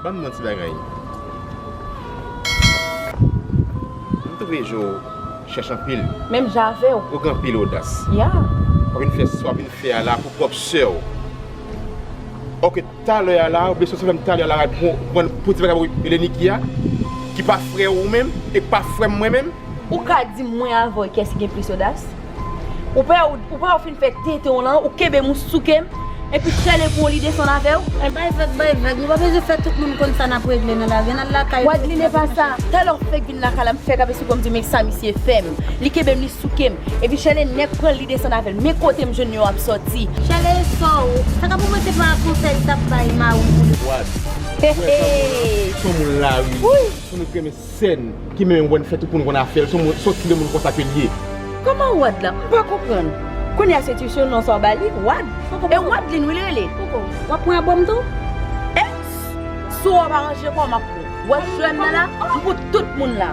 Banm non ti bagay. M trouve jo chèch anpil. Menm jan avew. Ou gen anpil odas. Yeah. Wap vin fè sa wap vin fè a la pou pwòp sèw. Ok talè a la ou vle sòti avèm talè a la pou ti bagay ou rele Niki a ki pa frèw ou menm e ki pa frèm mwen menm. Ou ka dim mwen avèw kès ki gen plis odas? Ou pè ou pè ou fin fè tenten w lan, ou kenbe mousouke m, epi sèlè pou yon lide san lave w? Bay vag bay vag, nou pa bezwen fè tout moun konn sa n ap regle nan lavi, ann al lakay nou. Wadline epa sa, talè w fèk vin lakay la m fèk ap esplike w m di men sa misye fè m, li kenbe m li souke m, epi sèlè nèg pran l li desann avè l, men kote m jwenn yo ap sòti. Sèlè e sò w, sa ka pou mwen se pa konsèy li t ap bay mari w pou li. Wad, ou wè sa moun lan, son moun lari, son nou t renmen. Sèn ki menmen wè n fè tout moun konn afè l son sòt ki de moun konsa ke l ye. Kòman wad la m pa konprann. Kounye a se tution non sa w ba li wad e wadline wi l rele. Koko wap pran album tou. Ex si w ap aranje kò w map pran w. Wè jèn nan la m fout tout moun la.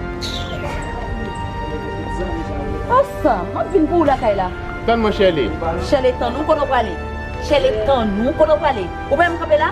Asa map vin pou w lakay la. Tann mwen Shirley. Shirley tann ou kote w prale. Shirley tann ou kote w prale. Ou pa wè m kanpe la.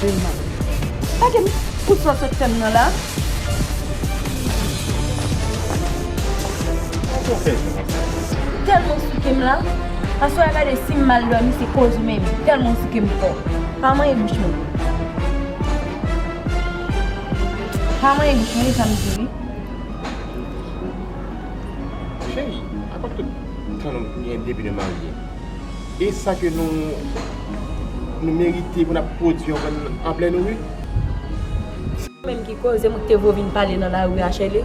Dema. Pa gen fout sòs ak fèm nan la. Poko fè sa la. Telman soukem la. Aswè a gade sim mal domi se koz ou menm. Telman ou soukem fò. Pa manyen bouch mwen. Pa manyen bouch mwen e sam di wi. Cheri, apa tout tan nou gen depi nou marye. E sa ke nou merite pou nap pwodwi yon grenn an plen ri. Se ou menm ki koze mwen te vo vin pale nan lari a Shirley.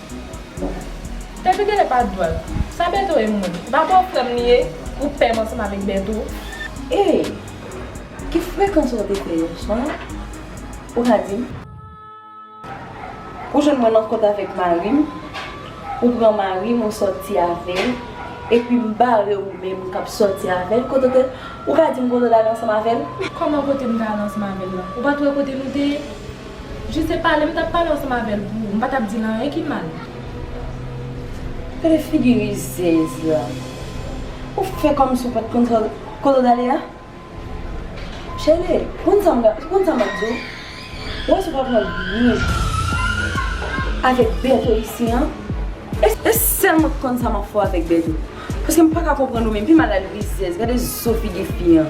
Depi Gele pa dwal. Sa Bertho ye moun. Li pa bò frèm li ye ou pèm ansanm avèk Bertho. Ey ki frekans ou te fè yeswa ou ka dim. Ou jwenn mwen nan kont avèk marim ou pran marim ou sòti avèl epi m bare ou menm kap sòti avèl kote ou te ou ka dim kote ou te ale ansanm avèl. Kòman kote m te ale ansanm avèl la ou pat wè kote nou te ye Juste pale m tap pale ansanm avèl pou ou m pa tap dil anyen ki mal. Gade figi rizèz la. Ou fè kòmsi ou pat konn sa kote w t ale a? Chèlbè, ou konn sa ou konn sa map di w? Ou panse ou pral pran byen avèk Bertho isi an? E sèl mwen ki konn sa map fè w avèk Bertho. Paske m paka konprann ou menm pi mal al rizèz gade zo figi fi an.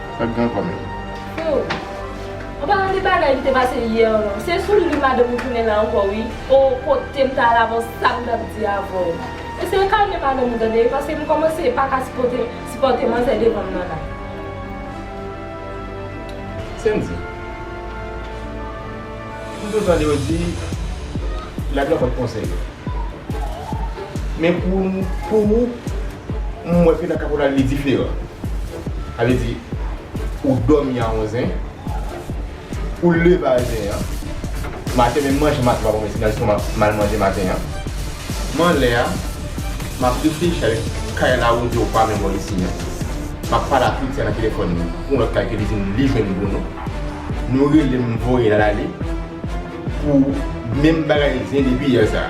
Fè gran kòm yo. Hum. An palan de bagay ki te pase yè an non. Se sou li madanm ou tounen la ankò wi. Oh kotem ta al avan sam tap di avèw. Eseye kalme madanm ou tande paske m kòmanse paka sipote sipòte manzè devanm nan la. Sendy. M toujou tande yo di lavi la bann konsèy. Men pou ou m wè ke nan kaporal li diferan. Sa vle di ou dòmi a 11 en, ou leve a 1 en, maten menm manje maten pa bon men se nan lestomak ou mal manje maten an. M anlè a, m ap reflechi avèk kay la ou di ou pa menm bò isit menm. M ap pale ak Fritz nan telefòn ni pou lòt kay ke li di m li jwenn Bruno. Nou rele m voye l al ale pou menm bagay zen depi yè sa.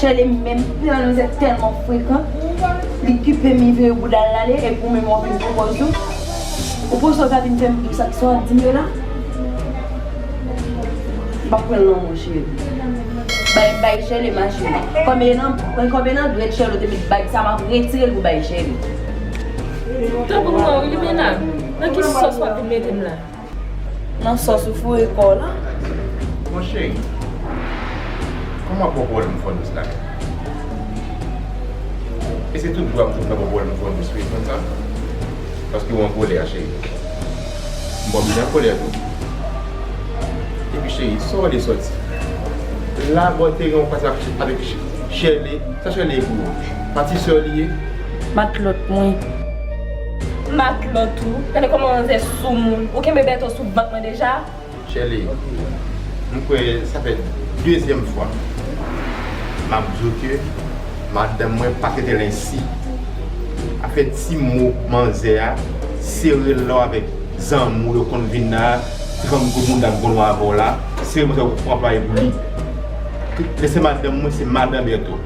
Shirley menm pran nou se telman frekan li kipe mi vire boudal la ale epi ou menm wap vin pou pòz ou ou panse ou ka vin fèm dous ak sa wap dim yo la map pranl nan menw cheri bay bay Shirley ma cheri konbyen nan konbyen nan dwèt Shirley ou te met bag sa map retirel pou bay Shirley. Tanpri mwen wi limena nan ki sòs wap vin metem la. Nan sòs ou foure kò w lan. Mon cheri, kòman w ap bò kò w lè m fò dous la menm? E se tout dwa m fout nan bò kò w lè m fò dous wi, konn sa? Paske w an kolè cheri. M bon byen an kolè tou. Epi cheri, sa w ale sòti? Labòterie w pase avèk Shirley, sa Shirley ye pou ou? Patisè w li ye? Matlòt mwen. Matlòt ou. Gade kòman manzè soumoun. Ou kenbe Bertho sou vant mwen deja? Chèle, m kwè sa fè dezyèm fwa m ap di w ke madanm mwen pa trete l ensi. Afè ti mo manzè a, sere l la w avèk zanmi w yo konn vin la a, tranp gwo mounda m konn wè avè w la a, sere m oswa w pran play pou li. Lè se madanm mwen, se madan Bertho.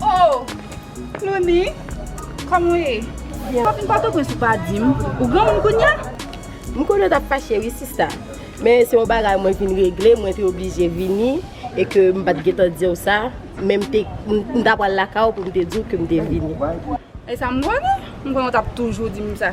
Oh! Clowny, kòman w ye? Byen. Papi, m pa toprens ou pa di m, ou granmoun kounya? M konnen w t ap fache wi sista, men se yon bagay mwen vin regle, mwen te oblije vini e ke m pa t gen tan di w sa, men m te, m ta pral lakay ou pou m te di w ke m te vini. E sa m konnen? M konnen w t ap toujou di m sa.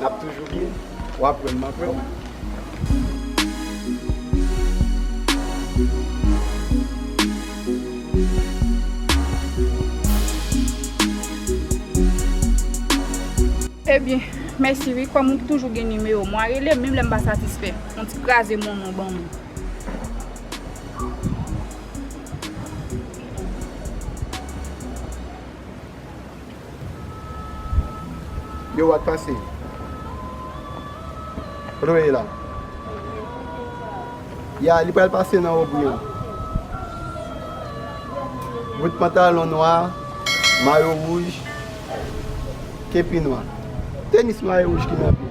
Nap toujou byen. Wap wè map wè w. Ebyen mèsi wi kòm ou toujou gen nimewo mwa rele m menm lè m pa satisfè yon ti kraze moun ou ban mwen. Yo wak pase. Kote ou ye la? Ya li pral pase nan obri an. Bout pantalon nwa, mayo wouj, kepi nwa. Tenis nwa e wouj ki nan pye.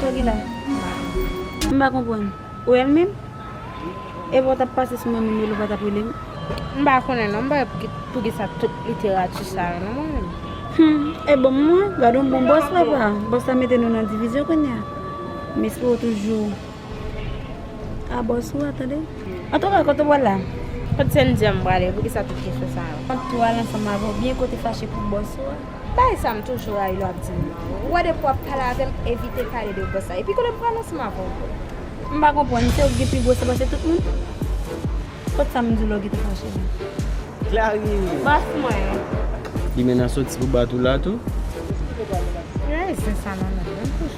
Sa ki la? M pa konprann. Ou wè l menm? Epi w t ap pase sou mwen menm lè ou pa t ap rele m? M pa konnen non. M pa wè poukisa tout literati sa yo non mwen menm. Hum! E bonm mwen? Gad on bon bòs papa! Bòs la mete nou nan divizyon kounye a. M espere w toujou a bòs ou a tande. Antouka, kote w pral la? Kot se m di w m prale? Poukisa tout kesyon sa yo? Ou pral ansanm avè w byen ke w te fache pou bòs ou a? Bagay sa m toujou rayi lè w ap di m nan. Ou wè depi w ap pale avè m evite pale de gros sa. Epi koulye m pran nan sima avè w vre. M pa konprann, se ou ki gen pi gwo san pase tout moun? Kot sa m di w la ou kite fache la? Clari! Bòs mwen! Li menace w ti pou bat ou la tou? Ki rayi sen sa nan menm?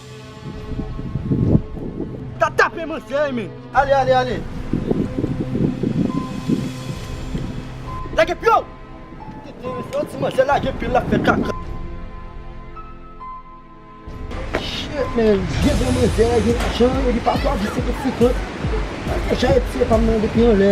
Ta tape manzè a men. Ale ale ale. Lage piyol. Tete yo se yon ti manzè lage piyol lap fe kaka. Shit man vye bon manzè a gen lajan epi pafwa vye se pou ti kont. Lage jan e pye pam nan depi yon lè.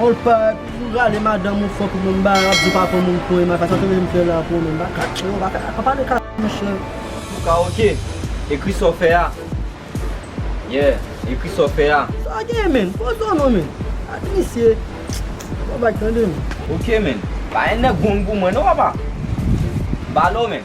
Old Park ou rale madanm ou fok moun ba ap di ou pa pran moun pou ema sa sa te vle fè la pou ou menm ba kaka yo ba kaka pa pale kaka mesye. Luca ok ekri sa w fè a yeah ekri sa w fè a. Sa gen menn poz ou an non menn ak misye se pa blag tande menn. Ok menn pa yon nèg gong pou mwen non papa m pa lè w menn.